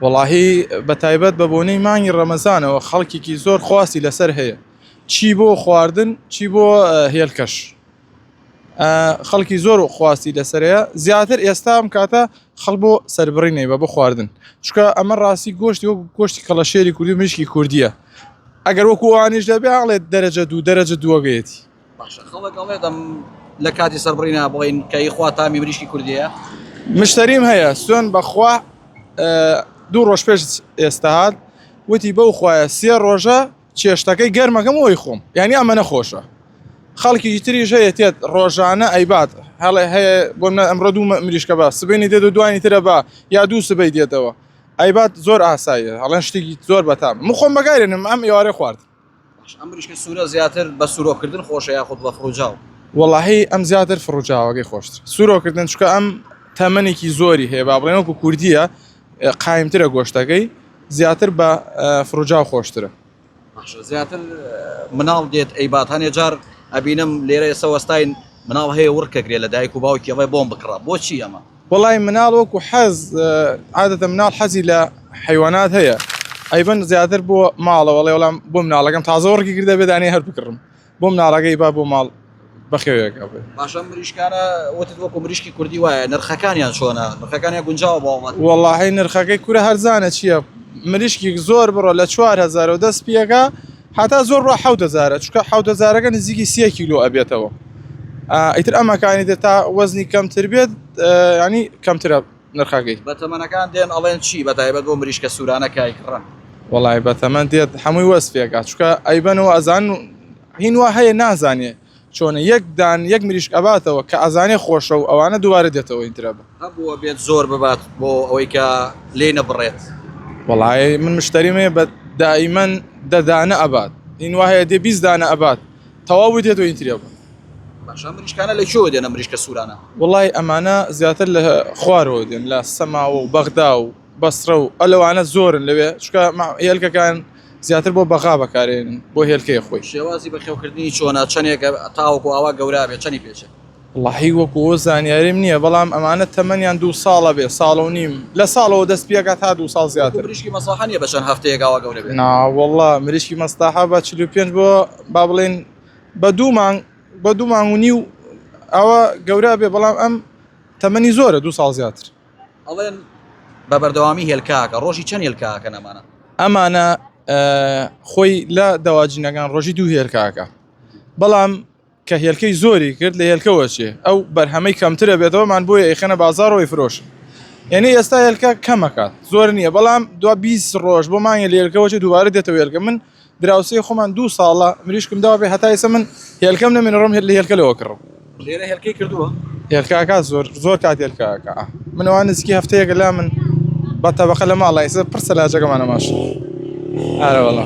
وەڵاهی بەتایبەت بە بۆنەی مانگی ڕەمەزانەوە خەڵکێکی زۆر خواستی لەسەر هەیە چی بۆ خواردن چی بۆ هێلکەش خەڵکی زۆر خواستی لەسەرەیە زیاتر ئێستا ئەم کاتە خەڵ بۆ سربڕینەی بە بۆ خواردن چکە ئەمە ڕاستی گۆشتی وەک گۆشتی کەڵەشێری کوردی مشکی کوردیە ئەگەر وەکووانیش دەبێ هەڵێت دەرەجە دوو دەرەجە دووەگەیەتی باشە خەڵک ئەڵێ دەم لە کاتی سەربڕی نابڵین کەی خوا تامی بریشکی کوردیە مشتەریم هەیە سوێن بەخوا دوو ڕۆژ پێش ئێستا هاات وتی بەو خوایە سێ ڕۆژە چێشتەکەی گەرمەکەم ئەوی خۆم یعنی ئەمە نەخۆشە خەڵکی تریش هەیە تێت ڕۆژانە ئەیبات هەڵێ هەیە بۆ منە ئەمڕۆ دوو مریشکە بە سبینی دێت و دوانی ترە بە یا دوو سبەی دێتەوە ئەیبات زۆر ئاساییە هەڵێن شتێکی زۆر بەتام مخۆم بەگارێنم ئەم ئێوارە خواردن ئەم مریشکە سورە زیاتر بە سورۆ کردن خۆشە یاخود بە فڕوجاو؟ وەڵاهی ئەم زیاتر فڕوجاوەکەی خۆشترە سورۆ کردن چونکە ئەم تەمەنێکی زۆری هەیە با بڵێن وەکو کوردییە قایمترە گۆشتەکەی زیاتر بە فڕوجاو خۆشترە باشە زیاتر مناڵ دێت ئەیبات هەنێ جار ئەبینم لێرە ئێستا وەستاین مناڵ هەیە وڕکەگرێ لە دایک و باوکی ئەڵێ بۆم بکڕە بۆچی ئەمە وەڵای مناڵ وەکو حەز عادەتە مناڵ حەزی لە حیوانات هەیە ئەیبەن زیاتر بۆ ماڵە وەڵێ وەڵام بۆ مناڵەکەم تازە وەڕکی کردە بێدانی هەر بکڕم بۆ مناڵەکەی با بۆ ماڵ بەخێوێکە باشە مریشکانە وتت وەکو مریشکی کوردی وایە نرخەکانیان چۆنە نرخەکانیان گونجاوە باوەڵات وەڵاهی نرخەکەی کورە هەرزانە چییە مریشکی زۆر بڕە لە 4هزار و دەست پیەکە هەتا زۆر بە حەوت هەزارە چکە حەوت هەزارەکە نزیکی سیە کیلو ئەبێتەوە ئیتر ئەمەکانی تر تا وەزنی کەمتر بێت ینی کەمترە نرخەکەی بە تەمەەکان دێن ئەڵێن چی بە تایبەت بۆ مریشکە سوورانە کایکڕە وڵی بە تەمەند دێت هەمووی وەسپێکا چکە ئەیبەنەوە ئەزان هینوا هەیە نازانێ چۆنە یەک دان یەک مریشک ئەباتەوە کە ئەزانێ خۆشە و ئەوانە دووبارە دێتەوە ئینترا بە. هەبووە بێت زۆر ببات بۆ ئەوەی کە لێی نەبڕێت. وەڵاێ من مشتەریم هەیە بە دائیمەن دە دانە ئەبات هین وا هەیە دێ بیست دانە ئەبات تەواوی دێت و ئینترا بە. باشە ئەم مریشکانە لە کوێوە دێن ئەم مریشکە سوورانە؟ وەڵاێ ئەمانە زیاتر لە خوارەوە دێن لە سەماوە و بەغدا و. بەسڕە و ئە لەوانە زۆرن لەوێ چکە مە هێلکەکان زیاتر بۆ بەغا بەکارێنن بۆ هێلکەیە خۆی. شێوازی بەخێوکردنی چۆنە چەنێکە تاوەکو ئاوا گەورابێت چەنی پێچێت؟ وەڵاهی وەکو ئەوە زانیاریم نییە بەڵام ئەمانە تەمەنیان دوو ساڵە بێ ساڵ و نیم لە ساڵەوە دەست پێکا تا دوو ساڵ زیاتر. وەکو مریشکی مەسڵەحە نییە بە چەند هەفتەیەک ئاوا گەورە بێت؟ نا وەڵا مریشکی مەسڵەحە بە چل و پێنج بۆ با بڵێین بە دوو مانگ بە دوو مانگ و نیو ئاوا گەورا بێ بەڵام ئەم تەمەنی زۆرە دوو ساڵ زیاتر. ئەڵێن بە بەردەوامی هێلکاکە ڕۆژی چەند هێلکاکە نەمانە ئەمانە خۆی لە دەواجینەکان ڕۆژی دوو هێلکاکە بەڵام کە هێلکەی زۆری کرد لە هێلکەوە چێ ئەو بەرهەمەی کەمترە بێتەوەمان بۆ ئەیخەنە بازارەوەی فرۆش یعنی ئێستا هێلکە کەمەکات زۆر نییە بەڵام دو 20 ڕۆژ بۆ مانگە لێلکەوە چێ دووبارە دێتە وێلکە من دراوسێی خۆمان دوو ساڵە مریشکم داوە بێ هەتا ئێستا من هێلکەم نەمێنڕم هێت لە هێلکە لەوە کڕم لێرە هێلکەی کردووە هێلکاکە زۆر زۆر کات هێلکاکە منەوە نزیکی هەفتەیەکە لا من بە تەبقە لە ماڵە ئێستا پرسە لاجەکەمانە ماش ئارەوەڵە